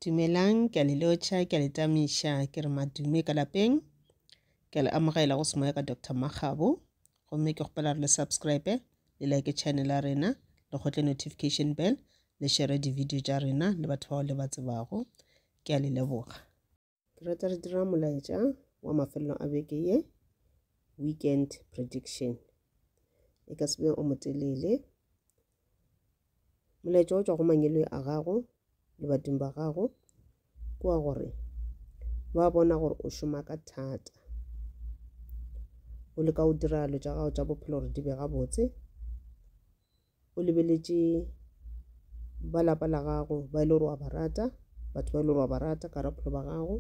Dumelang, ke a le lotšha, ke a le tamiša, ke re madume ka lapeng. Ke a le amogela go semoya ka Doctor Makgabo. Gomme ke kgopela re le subscribe, le like channel ya rena, le kgotle notification bell, le share di-video tša rena le batho bao le ba tsebago. Ke a le leboga. Ke rata re dira molaetša wa mafelelo a beke ye, weekend prediction. E ka se be o motelele. Molaetša o tšwa go mangelo a gago le badimo ba gago ke wa gore ba bona gore o šoma ka thata o leka o dira dilo tša gago tša bophelo gore di be gabotse o lebeletše ba lapa la gago ba e le gore wa ba rata batho ba e le gore wa ba rata ka bophelo ba gago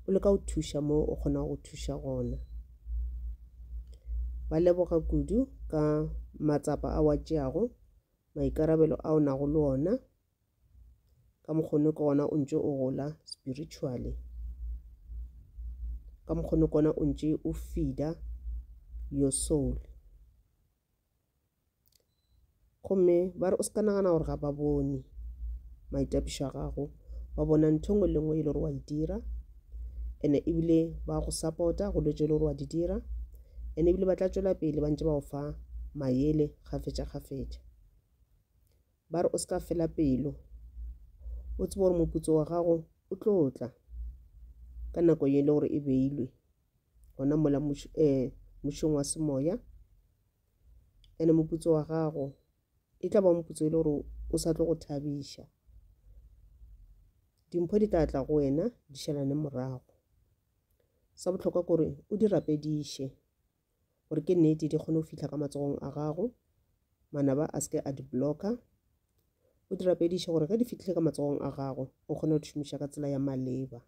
o leka go thuša mo o kgonago go thuša gona ba leboga kudu ka matsapa a wa tšeago maikarabelo a o nago le ona ka mokgone ke gona o ntše o gola spiritually ka mokgone kona o ntše o feeder your soul gomme ba re o se ka nagana gore ga ba bone maitapišo a gago ba bona ntho ngwe le ngwe e le gore wa e dira ene ebile ba go support-a go letse e le gore wa di dira ene ebile ba tla tšwela pele ba ntse ba go fa mayele kgafetša kgafetša ba re o se ka fela pelo o tsebe gore moputso wa gago o tlo tla ka nako ye e le gore e beilwe gona mola eh, mošong wa semoya ene moputso wa gago e tla ba moputso e le gore o sa tlo go thabiša dimpho di tla tla go wena di šalane morago sa bohlokwa kore o di rapediše gore ke nnete di kgone go fitlha ka matsogong a gago manaba a seke a di blocka o di rapediše gore ge di fitlhile ka matsogong a gago o kgone go di šomiša ka tsela ya maleba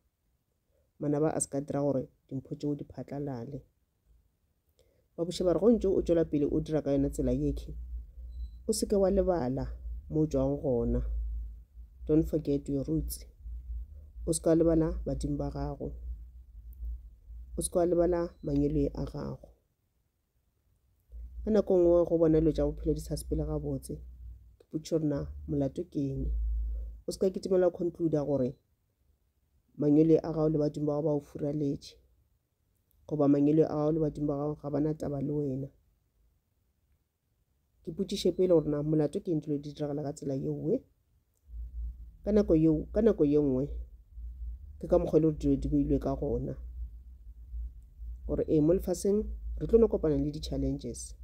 manaba a se ka dira gore dimpho tšeo di phatlalale ba buša ba re go ntse o tšwela pele o dira ka yona tsela yekhe o seke wa lebala mo tšwang gona don't forget your roots o seka lebala badimo ba gago o seka lebala manyelwe a gago ka nako e nngwe go bona dilo tša bophelo di sa sepele gabotse ke potšišo rena molato ke eng o se ka kitimela concluda gore mangwele a gago le badimo ba gago ba o furaletše goba mangwele a gago le badimo ba gago ga bana taba le wena ke potšiše pele gore na molato ke eng dilo di diragala ka tsela yeoe ka nako yeo ka nako ye nngwe ke ka mokgwa e le gore dilo di beilwe ka gona gore ee mo lefaseng re tlo no kopana le di-challenges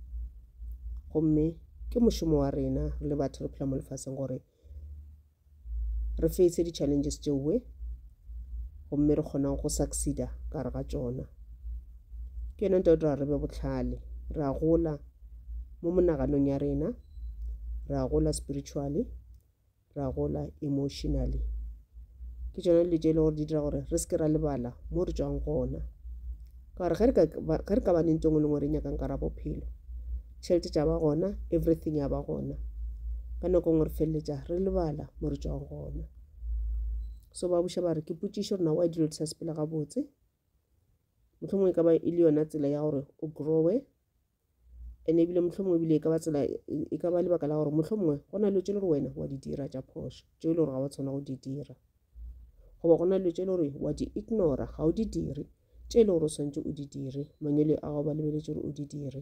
gomme ke mošomo wa rena re le batho re phela mo lefaseng gore re fetse di-challenges tšeoe gomme re kgona go succeeda ka re ga tšona ke yona nto dira re be botlhale re a gola mo monaganong ya rena re a gola spiritually re a gola emotionally ke tšona dilo tše e le gore di dira gore re seke ra lebala mo re tswang gona ka gore ge re ka ba nentong e lengwe re nyakang ka ra bophelo tšhelete tša ba gona everything ya ba gona ka nako ngwe re feleletša re lebala mo re tswang gona so ba buša ba re ke potšišo gore na wa dilo di sa sepela gabotse mohlomongwe e ka ba e le yona tsela ya gore o growe and-e ebile mohlomongwe ebile e ka ba tsela e ka ba lebaka la gore mohlomongwe go na dilo tse le gore wena wa di dira tša phošo tse e le gore ga wa tshwana go di dira goba go na dilo tse e le gore wa di ignora ga o di dire tse e le gore o tshwanetse o di dire mangwele a gago ba lebeletse gore o di dire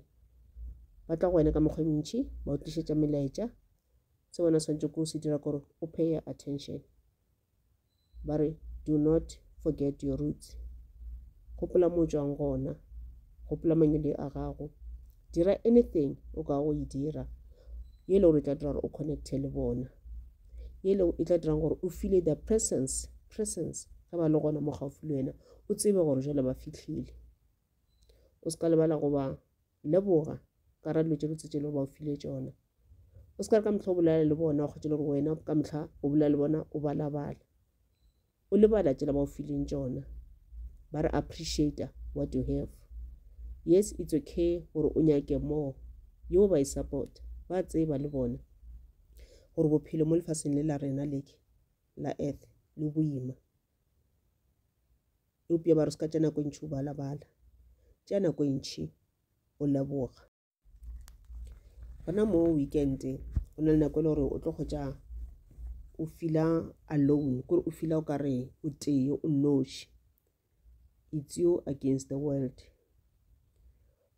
ba tla go wena ka mekgwa e mentšhi ba o tlišetša melaetša se wena swantse ko se dira kore o pay attention ba re do not forget your roots gopola mo tswang gona gopola mangele a gago dira anything o ka go e dira ye le gore e tla dira gore o connecte le bona ye le e tla dirang gore o file the presence presence ge ba le gona mo gaufi le wena o tsebe gore jale ba fitlhile o se ka lebala go ba leboga ka ra dilo tše botse tše le gore ba o file tšona o se ka re ka motlha o bolela le bona o kgwetše le gore wena ka motlha o bolela le bona o balabala o lebala tsela ba o fileng tšona ba re appreciator what you have yes it's okay gore o nyake more yo ba e support ba tseba le bona gore bophelo mo lefaseng le la rena leke la earth le boima eupša ba re se ka tša nako e ntšhi o balabala tša nako e ntšhi o leboga gona mo weekend o na le nako e le gore o tlo kgotša o fila alone kore o fila o ka re o tee o noši it's you against the world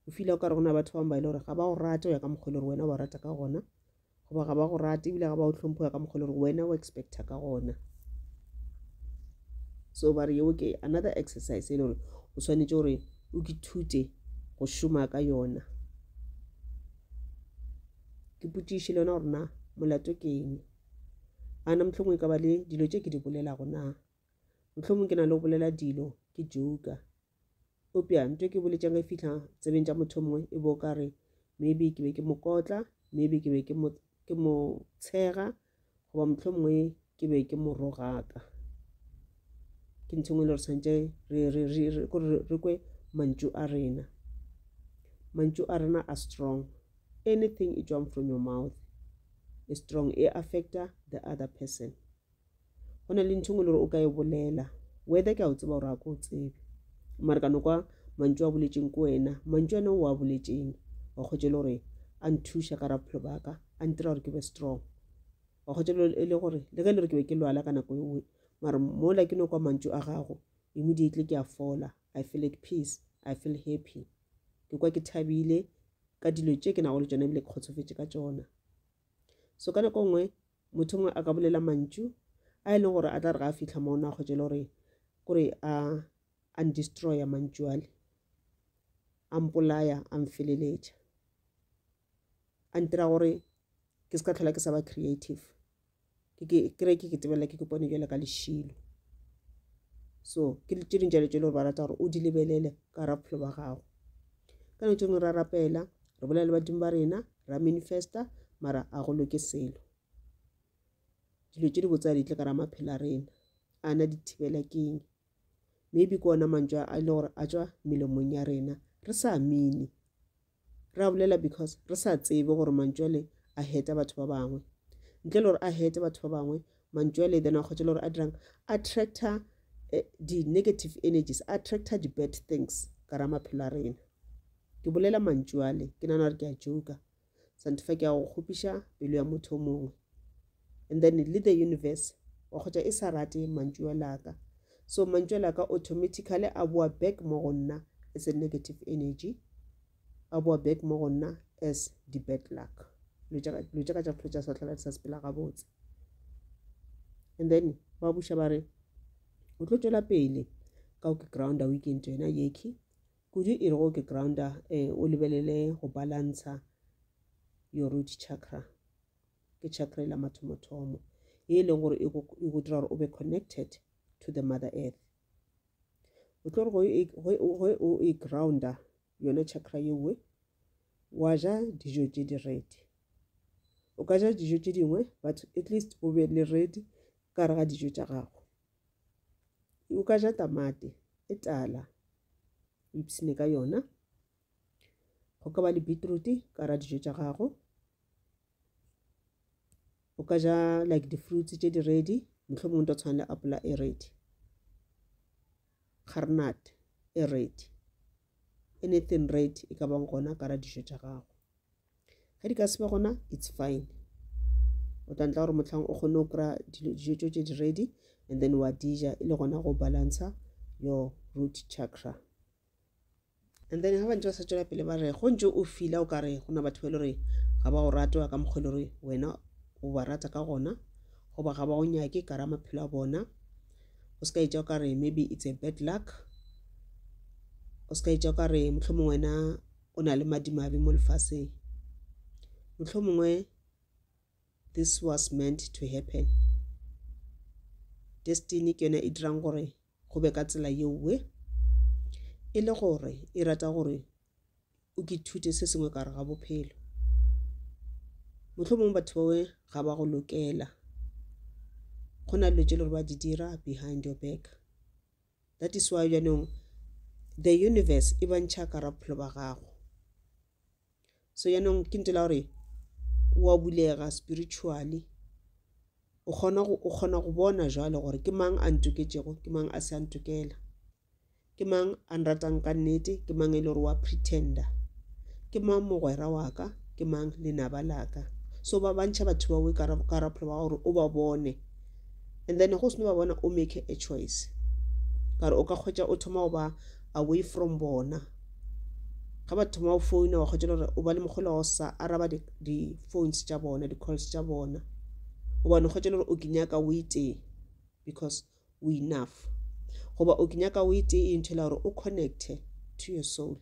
o fila o ka re gona batho bangwe ba e le gore ga ba o rate go ya ka mokgwa e le gore wena o ba rata ka gona goba ga ba go rate ebile ga ba o tlhompho ya ka mokgwa le gore wena o expecta ka gona so ba re yeo ke another exercise e le gore o tshwanetse gore o ke thute go šoma ka yona ke potšiše le yona gore na molato ke eng a na mohlomong e ka ba le dilo tše ke di bolelago na mohlomong ke na le go bolela dilo ke joka Eupša nto ke boletšang e fihla tsebeng tša motho mongwe e bo ka re maybe ke be ke mo kotla maybe ke be ke mo ke mo tshega goba motlho mongwe ke be ke mo rogaka ke ntho ngwe le re tshwanetse re re re re kore re kwe mantšu a rena mantšu a rena a strong anything e tswang from your mouth e strong e affecta the other person go na le ntho ngwe le gore o ka e bolela whether ke a o tseba gore a ko o tsebe mare ka nokwa mantšu a boletseng ko wena mantšu ane o a boletseng wa kgwetse le gore a nthuša ka ra bophelo baka a ntira gore ke be strong wa kgwetse e le gore le ge e le gore ke be ke lwala ka nako engwe mare mola ke nokwa mantšu a gago immediately ke a fola i feel at peace i feel happy ke kwa ke thabile ka dilo tše ke nago le tsone ebile ke kgotsofetse ka tsona So ka nako nngwe motho mongwe a ka bolela mantšu a e leng gore a tla re ga a fitlha mono a kgwetšele gore kore a a ndestroya mantšu ale a mpolaya a mfeleletša a ntira gore ke se ka tlhola ke sa ba creative ke re ke ke tebela ke kopane jalo ka lešilo so ke tše ding jalo tše le gore ba rata gore o di lebelele ka ra bophelo ba gago ka nako tše ngwe ra rapela re bolela le badimo ba rena ra manifesta mara a go loke selo dilo tše di botsa di tle ka ra maphelo a rena a na di thibela keng maybe ke ona mantšwa a e le gore a tswa melomong ya rena re sa mine Re a bolela because re sa tsebe gore mantšu ale a heta batho ba bangwe. Ntle le gore a hete batho ba bangwe, mantšu ale then a kgwetše le gore a dirang, attractor eh, di-negative energies, attractor di-bad things ka ra maphelo a rena. Ke bolela mantšu ale, ke nana gore ke a joka. Santifa ke a go kgopiša pelo ya motho o mongwe. and then le the universe wa kgotša e sa rate mantšuo laka so mantšuo laka automatically a boa back mo go nna as a negative energy a boa back mo go nna as the bad luck lo tša ka tša bophelo tša sehlola di sa sepela gabotse and then ba buša ba re o tlo tšwela pele ka o ke grounda o ikentse yona yekhi kudu e re go ke grounda um o lebelele go balantsha your root chakra ke chakra la mathomothomo e leng gore e go dira gore o be connected to the mother earth o tlo gore e, o e grounda yona chakra yewe wa ja dijo tse di redi o ka ja dijo tse dingwe but at least o be le redi ka re ga dijo tša gago o ka ja tamate e tala o ipsene ka yona go ka ba le beetroot ka ra dijo tša gago o ka ja like di-fruits tše di ready mohlomong to tshwana le apola e ready garnat e ready anything ready e ka bang gona ka ra dijo tša gago ge di ka se be gona it's fine o tla ntla gore motlhang o kgone go kry-a dijo tso tse di ready and then wa dija e le gona go balancer your root chakra And then ha ba ntse ba sa tšwela pele ba re go ntse o fila o ka re go na batho ba e le gore ga ba o rate wa ka mokgwa e le gore wena o ba rata ka gona goba ga ba o nyake ka ra maphelo a bona o se ka etša o ka re maybe it's a bad luck o se ka etša o ka re motlho mongwe wena o na le madimabe mo lefaseng motlho mongwe this was meant to happen destiny ke yone e dirang gore go be ka tsela yeowe e le gore e rata gore o ke thute se sengwe ka re ga bophelo mohlomongwe batho bawe ga ba go lokela go na dilo tse le gore ba di dira behind your back that is why jaanong the universe e bantšha ka ra bophelo ba gago so yaanong ke ntela gore wa bulega spiritually o kgona go o kgona go bona jwale gore ke mang a ntoketšego ke mang a se a ntokela ke mang a nratang ka nnete ke mang e le gore wa pretender ke mang mogwera wa ka ke mang lenaba la ka so ba bantšha batho bawe ka rapholo ba gore o ba bone and then go seno ba bona o make a choice kare o ka kgwetša o thoma go ba away from bona ga ba thoma o founa wa kgotšela gore o ba le mogolo wa go sa araba di-phones tša bona di-calls tša bona gobane o kgotšela gore o ke nyaka o itee because o enough goba o ke nyaka o itee e nthela gore o connecte to your soul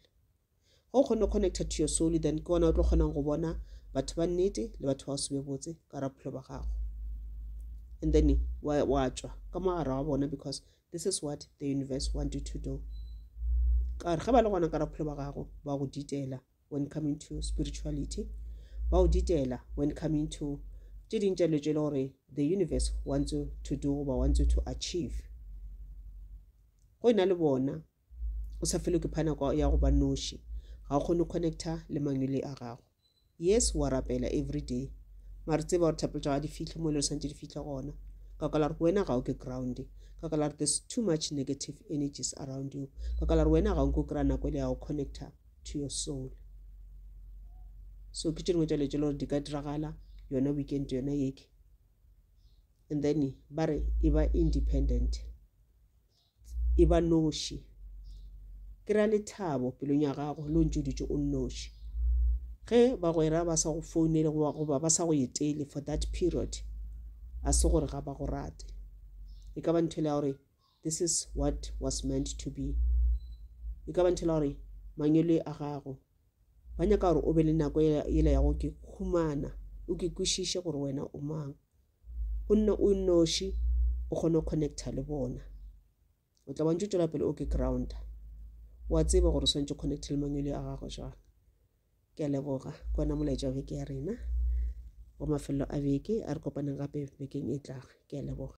ga o kgone go connecta to your soul then ke ona o tlo kgonang go bona batho ba nnete le batho ba o sebe botse ka raphelo ba gago and then wa tswa ka mogare wa bona because This is what the universe want you to do. Ka re ge ba le gona ka ra bophelo ba gago ba go ditela when coming to spirituality. Ba go ditela when coming to tše ding tša dilo tše e le gore the universe wants you to do goba wants you to achieve. Go e na le bona o sa felwe ke phanako ya go ba noši ga o kgone connecta le mangwele a gago yes wa rapela every day mare tseba gore thapelo tša ga di fitlhe mo le santse di fitlhe gona ka kala gore wena ga o ke ground ka kala gore there's too much negative energies around you ka kala gore wena ga o nke o kry-a nako e le ya go connecta to your soul so ke tše dingwe tša letse le gore di ka diragala yona weekend yona yeke and then ba re e ba independent e ba noši. Ke ra lethabo pelong ya gago le o ntse o dutše o nnoši. Ge bagwera ba sa go founele goba ba sa go etele for that period, a se gore ga ba go rate. E ka ba ntho ya gore this is what was meant to be. E ka ba ntho ya gore mangwele a gago ba nyaka gore o be le nako yela ya go ke khumana, o ke kwešiše gore wena o mang. o nne o nnoši o kgone go connecta le bona o tla bantse o tswela pele o ke grounder wa tseba gore o swantse connect le mangwele a gago jwang ke a leboga ke ona molaetša wa beke ya rena wa mafelelo a beke a re kopaneng gape bekeng e tlago ke a leboga